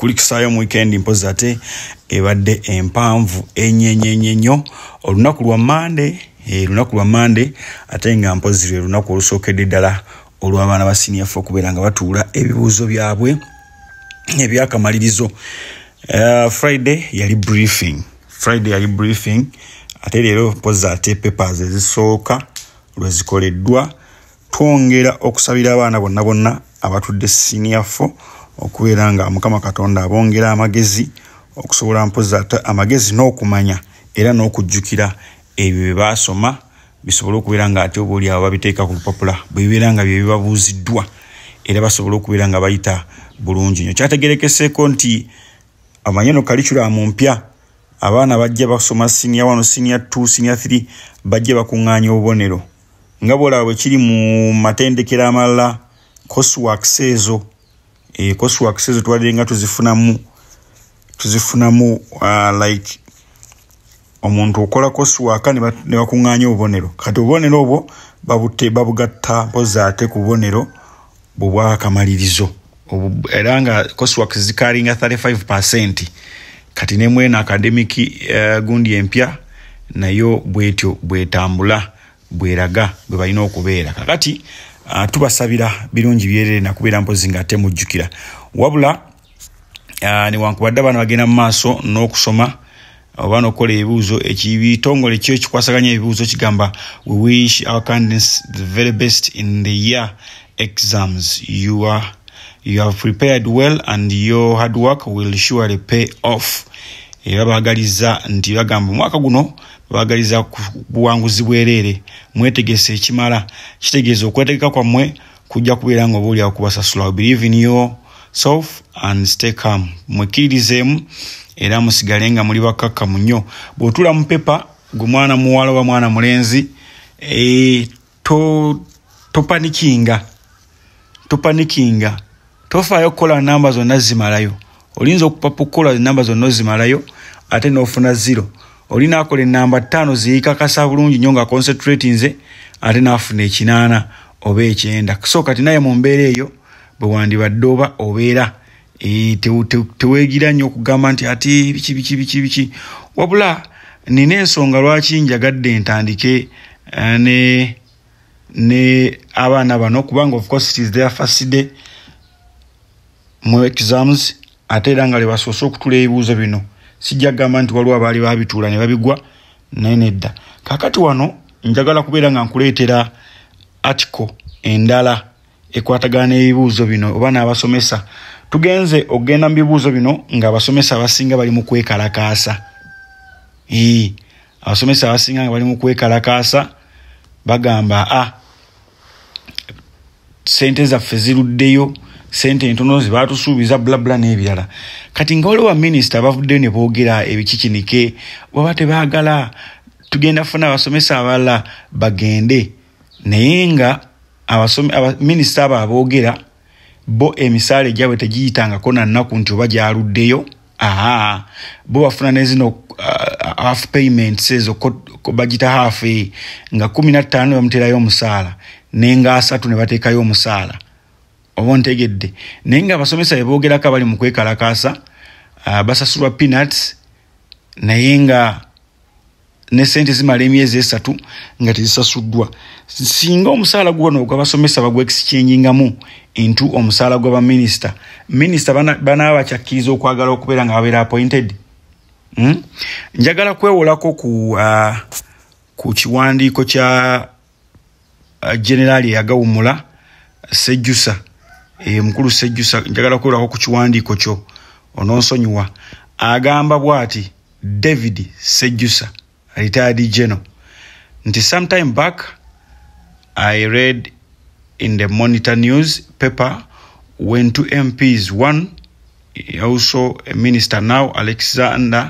kulikisaayo mu wikendi mpozi ate ebadde empanvu enyenyenyenyo olunaku lwa mande eh, lunaku lwa mande ate nga mpozi lwe lunaku olusookedde ddala olw'abaana ba siniya fe okubeera nga batuula ebibuuzo byabwe ebyakamalirizo eh, friday yali briefing friday yali briefing ate leero mpozi ate papers ezisooka lwezikoleddwa twongera okusabira abaana bonna bonna abatudde siniya fo okubeera nga mukama katonda abongera amagezi okusobola mpozi ate amagezi n'okumanya era n'okujjukira ebyo bye baasoma bisobole okubeera nga ate oba oliawo babiteeka ku lupapula bwebibeera nga bye bibabuuziddwa era basobole okubeera nga bayita bulungi nyo kyategerekeseeko nti amanye no kalikulamu mpya abaana bajja basoma siniya wano siniya t siniya th bajja bakuŋŋaanya obubonero nga bwolaba bwe kiri mu matendekero amalala coswax ezo e, coswax ezo twalire nga tuzifunamu tuzifunamu uh, like omuntu okola coswaka ne bakuŋŋaanya obubonero kati obubonero obwo babugatta mpozi ate ku bubonero bubwakamalirizo era nga coswork zikalinga 35 percent kati nemwena academic uh, gundi empya nayo bwetyo bwetambula bweraga bwebalina okubeera kakati uh, tubasabira birungi byerere nakubeera mpozi nga ate mujjukira wabula ah, newankubadde abaana bagenda mu maaso n'okusoma oba nokukola ebibuuzo ekibitongole kyo ekikwasaganya ebibuuzo kigamba we wish our candidates the very best in the year exams you are you have prepared well and your hard work will surely pay off era baagaliza nti bagamba omwaka guno baagaliza buwanguzi bwereere mwetegese ekimala kitegeeza okwetegeka kwammwe kujja kubeera nga obaolyawo kubasasula believe in your self and stay calm mwekkiririzeemu era musigale nga muli bakkakkamu nnyo bw'otuula mu pepa gwe mwana muwala oba mwana mulenzi e, to, topanikinga topanikinga tofaayo okukola namba zonna zimalayo olinza okupapa okukola enamba zonna ozimalayo ate n'ofuna ziro oli naakola enamba ttaano ziyikakasa bulungi nyo nga concentrati nze ate naafuna ekinaana oba ekyenda so kati naye mu mbeera eyo bwe wandibadde oba obeera e, tewegira nnyo okugamba nti ati biki biki biki biki wabula nina ensonga lwaki njagadde ntandike eh, ne ne abaana bano kubanga of course it is their first day mu exams ate era nga lebasoose okutula ebibuuzo bino sijja kugamba nti waliwo abaali babituula ne babigwa naye nedda kakati wano njagala kubeera nga nkuleetera article endala ekwatagana n'ebibuuzo bino oba n'abasomesa tugenze okugenda mu bibuuzo bino ng'abasomesa abasinga bali mu kwekalakaasa ee abasomesa abasinga nga bali mu kwekalakaasa bagamba a ah, sente zaffe ziruddeyo sente entono zebatusuubiza bulabula n'ebirala kati nga waliwo baminisita bavuddeyo ne boogera ebikikinike bwaba tebagala tugenda funa abasomesa abalala bagende naye nga minisita abo aboogera bo emisaala egyabwe tegiyitangako nannaku nti oba gyaluddeyo aa bo bafuna nezino uh, half payments ezo bagita half e, nga kumi nattaano bamuterayo omusaala nenga asatu ne bateekayo omusaala oba ntegedde naye nga abasomesa beboogerako abali mu kwekalakaasa uh, basasulwa peanuts naye nga ne sente zimala emyezi esatu nga tezisasuddwa singa omusaala guwano gwabasomesa bagwexchangingamu intu omusaala gwa baminisita minisita banaba bakyakkiriza okwagala okubeera nga babeera appointed hmm? njagala kwewolako ku uh, ku kiwandiiko kya uh, generaali eyagawumula sejjusa eh, mukulu sejjusa njagala kwerako ku kiwandiiko kyo ononsonyiwa agamba bwati david sejjusa retired general nti sometime back i read in the monitor news paper when two mps one also a minister now alex zander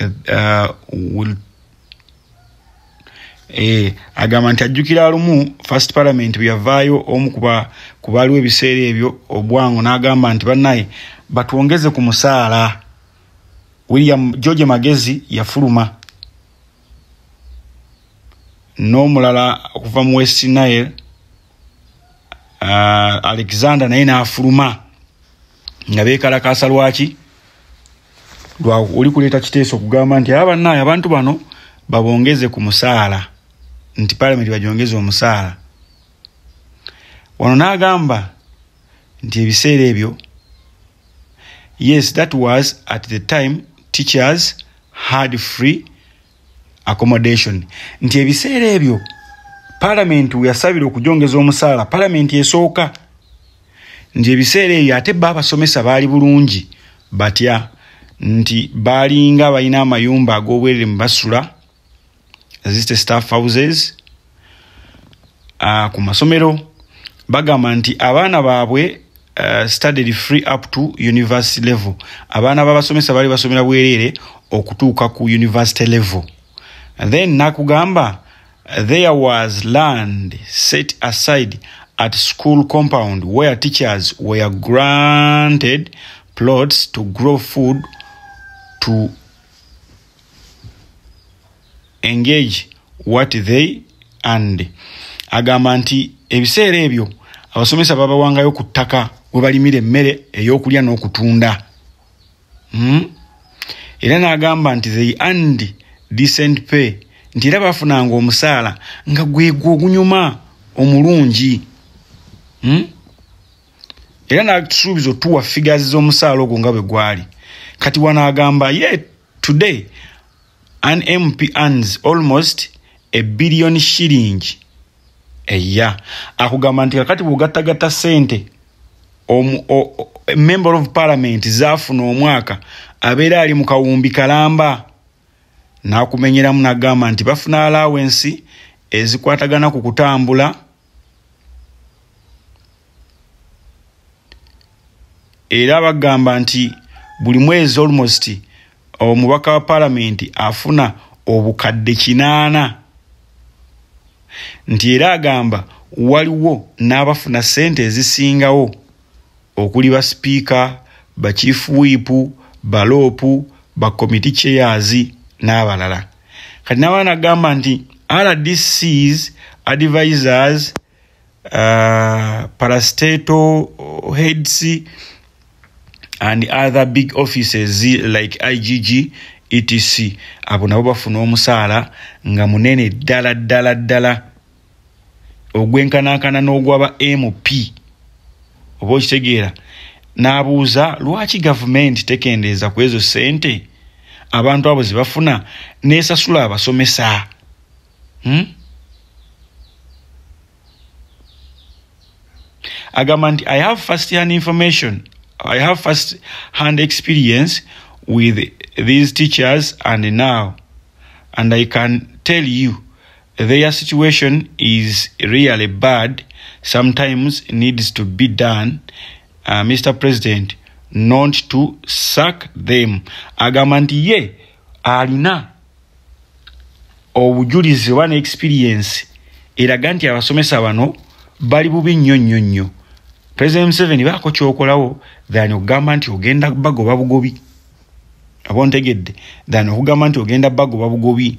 uh, will Eh, agamba nti ajjukira lumu first parliament bweyavaayo omu ku baaliwo ebiseera ebyo obwango n'agamba nti bannaye batwongeze ku musaala william george magezi yafuluma n'omulala okuva mu west nile uh, alexander naye n'afuluma nga bekalakaasa lwaki oli kuleeta kiteeso okugamba nti aba bannaayo abantu bano babongeze ku musaala nti palamenti bagyongeze omusaala wano n'agamba nti ebiseera ebyo yes that was at the time teachers had free accommodation nti ebiseera ebyo palamenti weyasabira okujongeza omusaala palamenti esooka nti ebiseera ebyo ate ba abasomesa baali bulungi batya nti baalinga balina amayumba ag'obwerere mu basula ziste staff houses uh, ku masomero bagamba nti abaana baabwe uh, studied free up to university level abaana babasomesa bali basomera bwereere okutuuka ku university level then nakugamba there was land set aside at school compound where teachers were granted plots to grow food to engage what they and agamba nti ebiseera ebyo abasomesa babawangayo ku ttaka we balimira emmere ey'okulya n'okutunda hmm? era n'agamba nti they and decent pay nti era bafunanga omusaala nga gwegwo ogunyuma omulungi hmm? era natusuubiza otuwa figazi z'omusaala ogwo nga bwe gwali kati wano agamba ye Today, an MP earns almost a billion shilling a year. Akugamba nti kakati bw'ogattagatta ssente member of parliament zaafuna omwaka abeera ali mu kawumbi kalamba n'akumenyeramu n'agamba nti bafuna alawensi ezikwatagana ku kutambula era bagamba nti buli mwezi almost omubaka wa palamenti afuna obukadde kinaana nti era agamba waliwo n'abafuna ssente ezisingawo okuli ba sipiika bakiifu wiipu baloopu bakomiti cheyazi n'abalala kati nabaana agamba nti rdcs advisors uh, parastato heads and other big offices like igg etc abo nabo bafuna omusaala nga munene ddala ddala ddala ogwenkanankana n'ogwaba mp oba okitegeera n'abuuza lwaki gavumenti tekendeeza ku ezo ssente abantu abo ze bafuna n'esasula abasomesa hmm? agamba nti i have first hand information i have first hand experience with these teachers and now and i can tell you Their situation is really bad sometimes needs to be done uh, Mr President not to suck them agamba nti ye alina obujulizi oba ne experience eraga nti abasomesa bano bali bubi nnyo nnyo nnyo president museveni baako kyokolawo than okugamba nti ogenda bagoba bugobi aba ontegedde than okugamba nti ogenda bagoba bugobi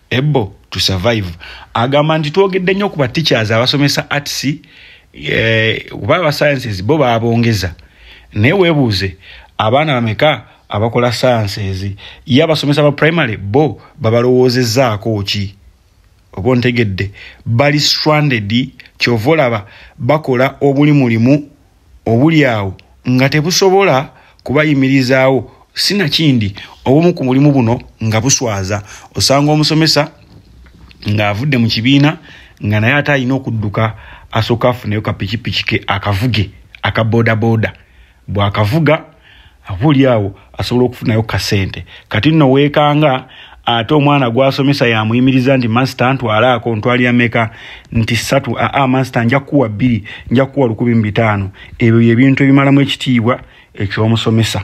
able to survive agamba nti twogedde nnyo ku ba teachers abasomesa arts eh, oba aba sciences bo babongeza naye webuuze abaana bameka abakola sciences ye abasomesa ba primary bo babalowoozezaako ki oba ontegedde bali stranded kyova olaba bakola obuli mulimu obuli awo nga tebusobola kubayimirizaawo sinakindi obumu ku mulimu buno nga buswaza osanga omusomesa ng'avudde mu kibiina nga naye ate alina okudduka asooka afuneyo kapikipiki ke akavuge aka bodaboda bw'akavuga abuli awo asobola okufunayo kasente kati nno weekanga ate omwana gwasomesa yamuyimiriza nti masita ntwalaako ntwalira meka nti satu aa masita nja kukuwa bbiri nja kukuwa lukumi mu bitaano ebyo byebintu ebimalamu ekitiibwa ekyomusomesa